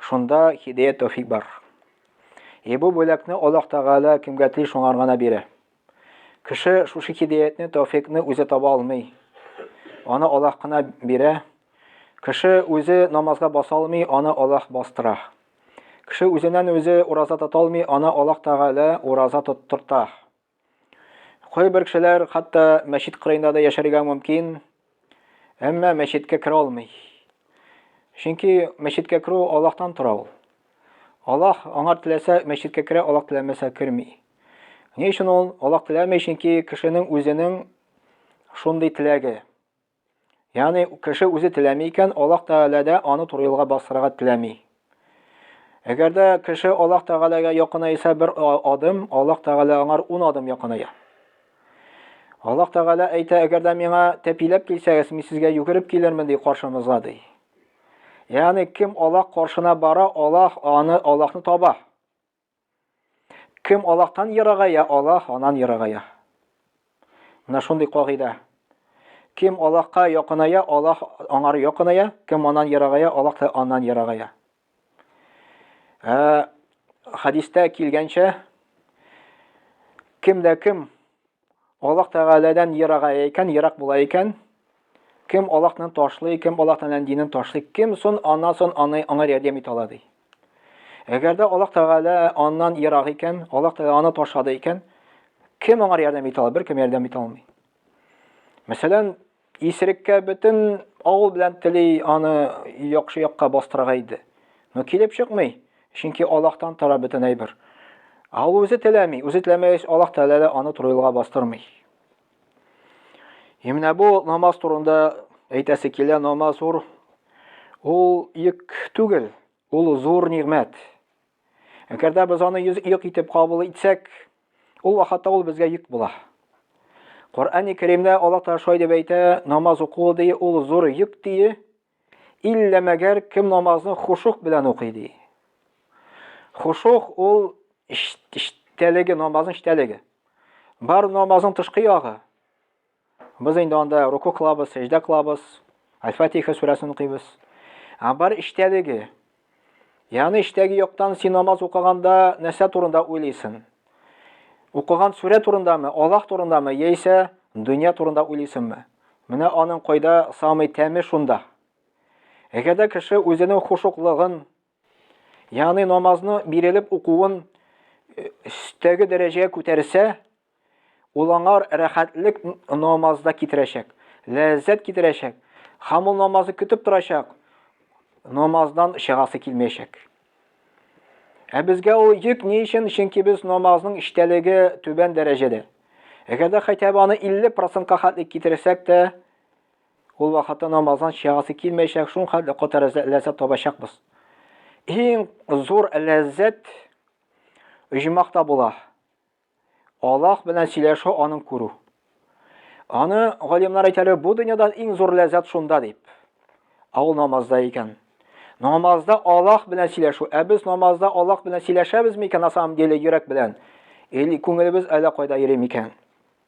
Шунда хидәят тәүфик бар. Е бу бүләкне Аллаһ Тәгалә кемгә тели шуңар гына бирә. Кеше шушы хидәятне, тәүфикне үзе таба алмый. Аны Аллаһ кына бирә. Кеше үзе намазга баса алмый, аны Аллаһ бастыра. Кеше үзеннән үзе ураза тота алмый, аны Аллаһ Тәгалә ураза тоттырта. Кайбер кешеләр хатта мәчет кырыенда да яшәргә мөмкин, әмма мәчеткә керә алмый. Чөнки мәчеткә керү Аллаһтан тора ул. Аллаһ аңар теләсә мәчеткә керә, Аллаһ теләмәсә керми. Ни өчен ул Аллаһ теләми? Чөнки кешенең үзенең шундый теләге. Ягъни кеше үзе теләми икән, Аллаһ Тәгалә дә аны туры юлга бастырырга теләми. Әгәр дә кеше Аллаһ Тәгаләгә якынайса бер адым, Аллаһ Тәгалә аңар ун адым якыная. Аллаһ Тәгалә әйтә, әгәр дә миңа тәпиләп килсәгез, мин сезгә йөгереп килермен, ди каршымызга, ди. Ягъни кем Аллаһ каршына бара, Аллаһ аны Аллаһны таба. Кем Аллаһтан ерагая, Аллаһ анан ерагая. Менә шундый кагыйдә. Кем Аллаһка якыная, Аллаһ аңар якыная, кем анан ерагая, Аллаһ та аннан ерагая. Ә хадистә килгәнчә, кем дә кем Аллаһ Тәгаләдән ерагая икән, ерак була икән, кем Аллаһны ташлый, кем Аллаһ Тәгаләнең динен ташлый, кем сон ана сон аны аңа ярдәм итә ала ди. Әгәр дә Аллаһ Тәгалә аннан ерак икән, Аллаһ Тәгалә аны ташлады икән, кем аңа ярдәм итә ала? Беркем ярдәм итә алмый. Мәсәлән, Исереккә бөтен авыл белән тели аны яхшы якка бастырырга иде. Но килеп чыкмый, чөнки Аллаһтан тора бөтен әйбер. Ә ул үзе теләми, үзе теләмәгәч, Аллаһ Тәгалә дә аны туры юлга бастырмый. И менә бу намаз турында әйтәсе килә, намаз зур. Ул йөк түгел, ул зур нигъмәт. Әгәр дә без аны юк итеп кабул итсәк, ул вакытта ул безгә йөк була. Коръәни Кәримдә Аллаһ Тәгалә шулай дип әйтә, намаз уку ди, ул зур йөк ди. Иллә мәгәр кем намазны хушук белән укый ди. Хушук ул эчтәлеге, намазның эчтәлеге. Бар намазның тышкы ягы. Без инде анда руку кылабыз, сәҗдә кылабыз, Аль-Фатиха сүрәсен укыйбыз. Ә бар эчтәлеге. Ягъни эчтәге яктан син намаз укыганда нәрсә турында уйлыйсың? Укыган сүрә турындамы, Аллаһ турындамы, яисә дөнья турында уйлыйсыңмы? Менә аның кайда самый тәме шунда. Әгәр дә кеше үзенең хушуклыгын, Ягъни намазны бирелеп укуын өстәге дәрәҗәгә күтәрсә, ул аңар рәхәтлек намазда китерәчәк, ләззәт китерәчәк, һәм ул намазы көтеп торачак, намаздан чыгасы килмәячәк. Ә безгә ул йөк ни өчен? Чөнки без намазның эчтәлеге түбән дәрәҗәдә. Әгәр дә хәтәбә аны 50 процентка хәтлек китерсәк тә, Ул вакытта намаздан чыгасы килмәячәк, шул хәтле кота ләззәт табачакбыз. Иң зур ләззәт оҗмакта була. Аллаһ белән сөйләшү, аның күрү. Аны галимнар әйтәләр, бу дөньяда иң зур ләззәт шунда дип. Ә ул намазда икән. Намазда Аллаһ белән сөйләшү. Ә без намазда Аллаһ белән сөйләшәбез микән на самом деле йөрәк белән? Или күңелебез әллә кайда йөри микән?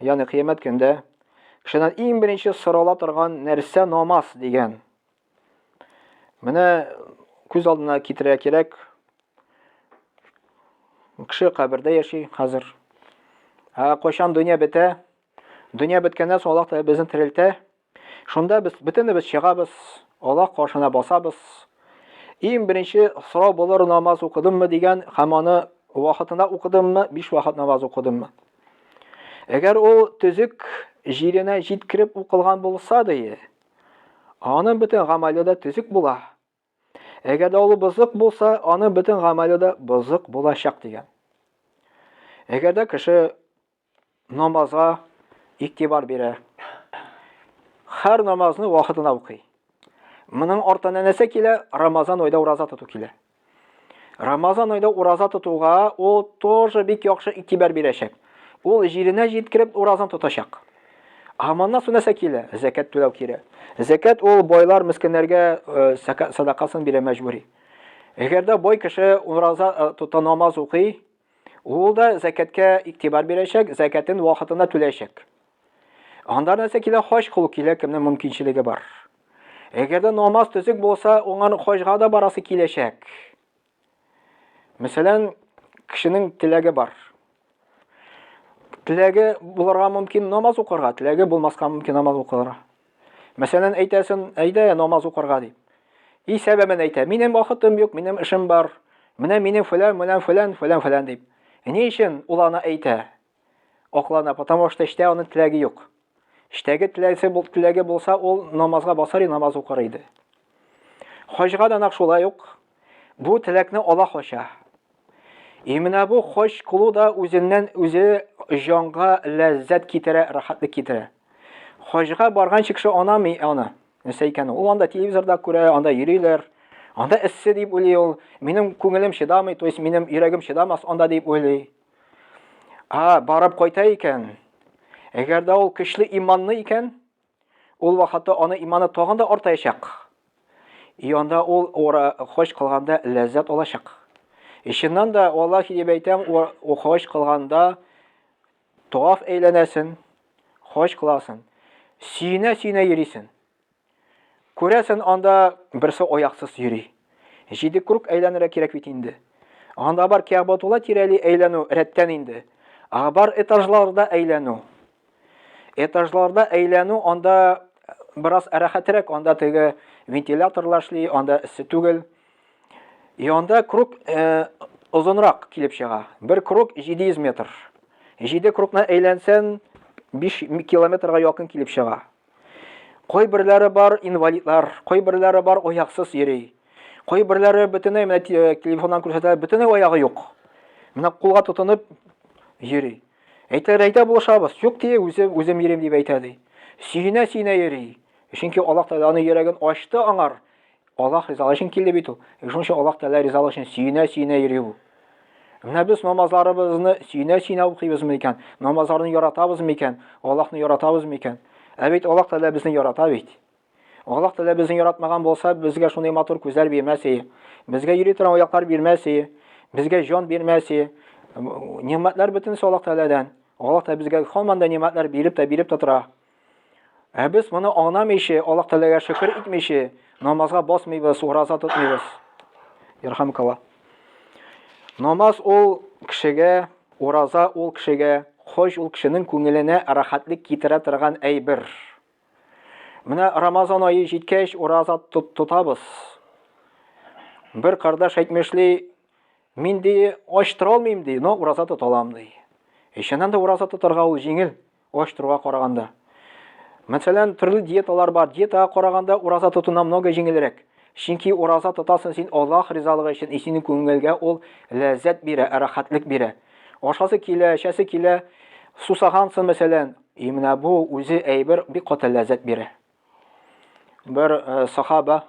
Ягъни кыямәт көндә кешедән иң беренче сорала торган нәрсә намаз дигән. Менә күз алдына китерә кирәк. Кеше кабердә яши хәзер. Ә кайчан дөнья бетә? Дөнья беткәннән соң Аллаһ Тәгалә безне терелтә. Шунда без бөтенебез чыгабыз, Аллаһ каршына басабыз. Иң беренче сорау булыр намаз укыдыммы дигән һәм аны вакытында укыдыммы, биш вакыт намаз укыдыммы. Әгәр ул төзек җиренә җиткереп укылган булса, ди, аның бөтен гамәле дә төзек була. Әгәр дә ул бозык булса, аның бөтен гамәле дә бозык булачак дигән. Әгәр дә кеше намазга игътибар бирә, һәр намазны вакытына укый. Моның артына нәрсә килә? Рамазан айда ураза тоту килә. Рамазан айда ураза тотуга ул тоже бик яхшы игътибар бирәчәк. Ул җиренә җиткереп уразан тотачак. Ә моннан соң нәрсә килә? Зәкәт түләү кирәк. Зәкәт ул байлар мескеннәргә э, садакасын бирә мәҗбүри. Әгәр дә бай кеше ураза э, тота намаз укый, ул да зәкәткә игътибар бирәчәк, зәкәтен вакытында түләячәк. Анда нәрсә килә? Хаҗ кылу килә, кемнең мөмкинчелеге бар. Әгәр дә намаз төзек булса, уңан хаҗга да барасы киләчәк. Мәсәлән, кешенең теләге бар. Теләге булырга мөмкин намаз укырга, теләге булмаска мөмкин намаз укырга. Мәсәлән, әйтәсен, әйдә намаз укырга дип. И сәбәбен әйтә, минем вакытым юк, минем эшем бар. Менә минем фәлән, менә фәлән, фәлән, фәлән дип. Ни өчен ул аны әйтә? Аклана, потому что эштә аның теләге юк. Эштәге теләсе бул теләге булса, ул намазга басар и намаз укыр иде. Хаҗга да нак шулай ук бу теләкне ала хача. И менә бу хаҗ кылу да үзеннән үзе җанга ләззәт китерә, рәхәтлек китерә. Хаҗга барган кеше анамый аны. Нәрсә икән ул? Анда телевизорда күрә, анда йөриләр. Анда эссе дип уйлый ул. Минем күңелем чыдамый, то есть минем йөрәгем чыдамас анда дип уйлый. А, барып кайта икән. Әгәр дә ул көчле иманны икән, ул вакытта аны иманы тагын да артаячак. И анда ул ора хош кылганда ләззәт алачак. Ишеннән дә Аллаһ дип әйтәм, ул хош кылганда тоф әйләнәсен, хош кыласын. Сине сине йөрисен. Күрәсен, анда берсе аяксыз йөри. Җиде круг әйләнергә кирәк бит инде. Анда бар Кәгъбатулла тирәли әйләнү рәттән инде. Ә бар этажларда әйләнү. Этажларда әйләнү анда бераз рәхәтрәк, анда теге вентиляторлар эшли, анда эссе түгел. И анда круг э, озынрак килеп чыга. Бер круг 700 метр. 7 кругны әйләнсән 5 километрга якын килеп чыга. Кайберләре бар инвалидлар, кайберләре бар аяксыз йөри. Кайберләре бөтенләй менә э, телефоннан күрсәтә, бөтенләй аягы юк. Менә кулга тотынып йөри. Әйтәләр, әйтә булышабыз. Юк дие, үзем үзем йөрим дип әйтә ди. Сөенә-сөенә йөри. Чөнки Аллаһ Тәгалә аны йөрәген ачты аңар. Аллаһ ризалыгы өчен килде бит ул. Э, шуның өчен Аллаһ Тәгалә ризалыгы өчен сөенә-сөенә йөри бу. Менә без намазларыбызны сөенә-сөенә укыйбызмы икән? Намазларны яратабызмы икән? Аллаһны яратабызмы икән? Ә бит Аллаһ Тәгалә безне ярата бит. Аллаһ Тәгалә безне яратмаган булса, безгә шундый матур күзләр бирмәс иде. Безгә йөри торган аяклар бирмәс иде. Безгә җан бирмәс иде. Нигъмәтләр бөтенесе Аллаһ Тәгаләдән. Аллаһ Тәгалә безгә һаман да нигъмәтләр биреп тә биреп тә тора. Ә без моны аңламыйча, Аллаһ Тәгаләгә шөкер итмичә, намазга басмыйбыз, ураза тотмыйбыз. Ярхамукалла. Намаз ул кешегә, ураза ул кешегә, хош ул кешенең күңеленә рәхәтлек китерә торган әйбер. Менә Рамазан айы җиткәч, ураза тотабыз. Бер кардаш әйтмешли, мин ди, ач тора алмыйм ди, но ураза тоталам ди. Ишеннән дә ураза тотарга ул җиңел. Оештыруга караганда. Мәсәлән, төрле диеталар бар. Диетага караганда ураза тотуна много җиңелрәк. Чөнки ураза тотасың син Аллаһ ризалыгы өчен, и синең күңелгә ул ләззәт бирә, рәхәтлек бирә. Ашасы килә, эчәсе килә, сусагансың мәсәлән, и менә бу үзе әйбер бик каты ләззәт бирә. Бер э, сахаба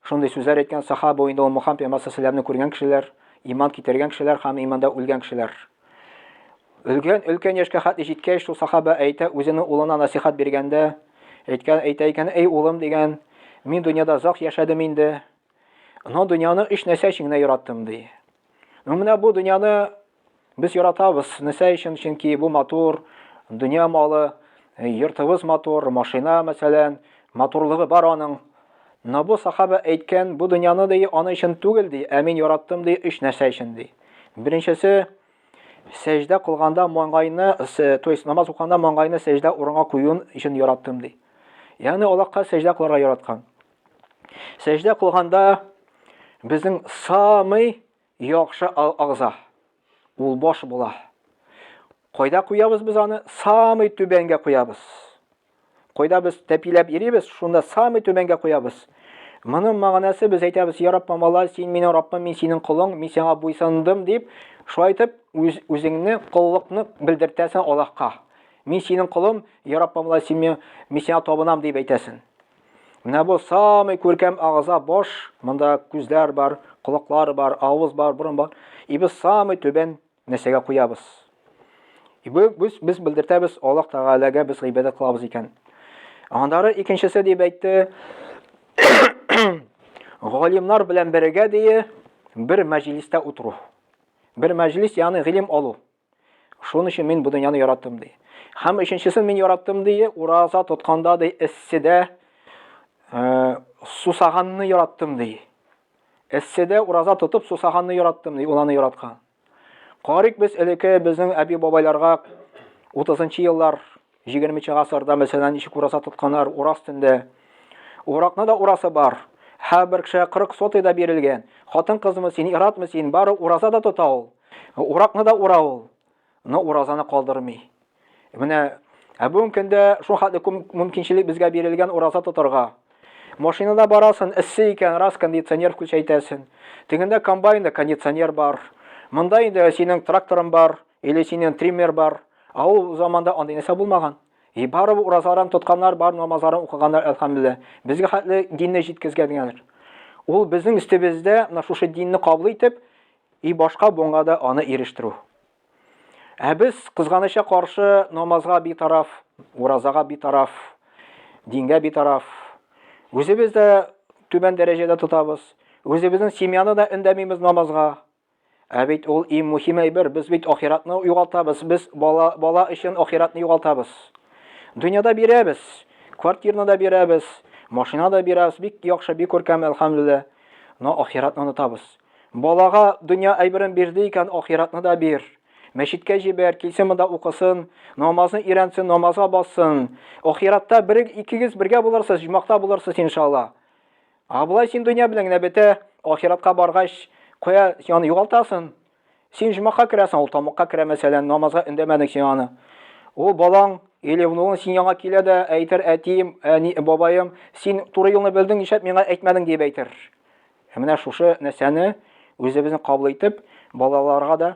шундый сүзләр әйткән, сахаба инде ул Мухаммад пәйгамбәр саллаллаху күргән кешеләр, иман китергән кешеләр һәм иманда үлгән кешеләр. Өлгән өлкән яшькә хәтле җиткәч, шул сахаба әйтә, үзенең улына насихат биргәндә, әйткән, әйтә икән, "Эй улым" дигән, "Мин дөньяда зак яшәдем инде. Но дөньяны өч нәрсә өчен генә яраттым", ди. Ну, менә бу дөньяны без яратабыз. Нәрсә өчен? Чөнки бу матур, дөнья малы, э, йортыбыз матур, машина, мәсәлән, матурлыгы бар аның. Но бу сахаба әйткән, бу дөньяны ди, аны өчен түгел ди, ә мин яраттым ди, өч нәрсә өчен ди. Беренчесе, сәҗдә кылганда маңгайны, то есть намаз укыганда маңгайны сәҗдә урынга куюын өчен яраттым ди. Ягъни Аллаһка сәҗдә кылырга яраткан. Сәҗдә кылганда безнең самый яхшы агза ул баш була. Кайда куябыз без аны? Самый түбәнгә куябыз. Кайда без тәпиләп йөрибез, шунда самый түбәнгә куябыз. Моның мәгънәсе без әйтәбез, "Я Раббым Алла, син минем Раббым, мин синең колың, мин сиңа буйсындым" дип, шулай итеп үз үзеңне коллыкны белдертәсең Аллаһка. Мин синең колым, Я Раббым Алла, син мин сиңа табынам дип әйтәсең. Менә бу самый күркәм агыза баш, монда күзләр бар, колаклар бар, авыз бар, борын бар. И без самый түбән нәрсәгә куябыз. И бу без без белдертәбез Аллаһ Тәгаләгә без гыйбадәт кылабыз икән. Андары икенчесе дип әйтте. Галимнар белән бергә дие бер мәҗлистә утыру. Бер мәҗлис, ягъни гыйлем алу. Шуның өчен мин бу дөньяны яраттым, ди. Һәм өченчесен мин яраттым, ди, ураза тотканда, ди, эсседә э, сусаганны яраттым, ди. Эсседә ураза тотып сусаганны яраттым, ди, ул аны яраткан. Карик без элеке безнең әби-бабайларга 30 еллар 20 нче гасырда мәсәлән ничек ураса тотканнар урас төндә уракны да урасы бар һәр бер кеше 40 сотый да бирелгән хатын кызмы син иратмы син бары ураза да тота ул уракны да ура ул но уразаны калдырмый менә ә бүгенге көндә шул хәтле күп мөмкинчелек безгә бирелгән ураза тотарга машинада барасың эссе икән раз кондиционер включайтәсең тегендә комбайнда кондиционер бар монда инде синең тракторың бар или синең триммер бар Ә ул заманда андый нәрсә булмаган. И барыбер уразаларын тотканнар бар, намазларын укыганнар, әлхәмдүлилләһ. Безгә хәтле динне җиткезгәннәр. Ул безнең өстебездә менә шушы динне кабул итеп, и башка буынга да аны ирештерү. Ә без кызганыча каршы намазга битараф, уразага битараф, дингә битараф. Үзебез дә түбән дәрәҗәдә тотабыз. Үзебезнең семьяны да өндәмимез намазга. Ә бит ул иң мөһим әйбер, без бит ахиратны югалтабыз, без бала, бала өчен ахиратны югалтабыз. Дөньяда бирәбез, квартирны да бирәбез, машина да бирәбез, бик яхшы, бик күркәм, әлхәмдүлилләһ. Но ахиратны онытабыз. Балага дөнья әйберен бирде икән, ахиратны да бир. Мәчеткә җибәр, килсен монда укысын, намазны өйрәнсен, намазга бассын. Ахиратта бер икегез бергә булырсыз, җмахта булырсыз иншалла. А болай син дөнья белән генә бетә, ахиратка баргач, кая аны югалтасың? Син җомака керәсең, ул тамакка керә мәсәлән, намазга өндәмәдең син аны. Ул балаң или внугың син яңа килә дә әйтер, әтием, әни, бабаем, син туры юлны белдең, нишләп миңа әйтмәдең дип әйтер. Ә менә шушы нәрсәне үзебезне кабул итеп, балаларга да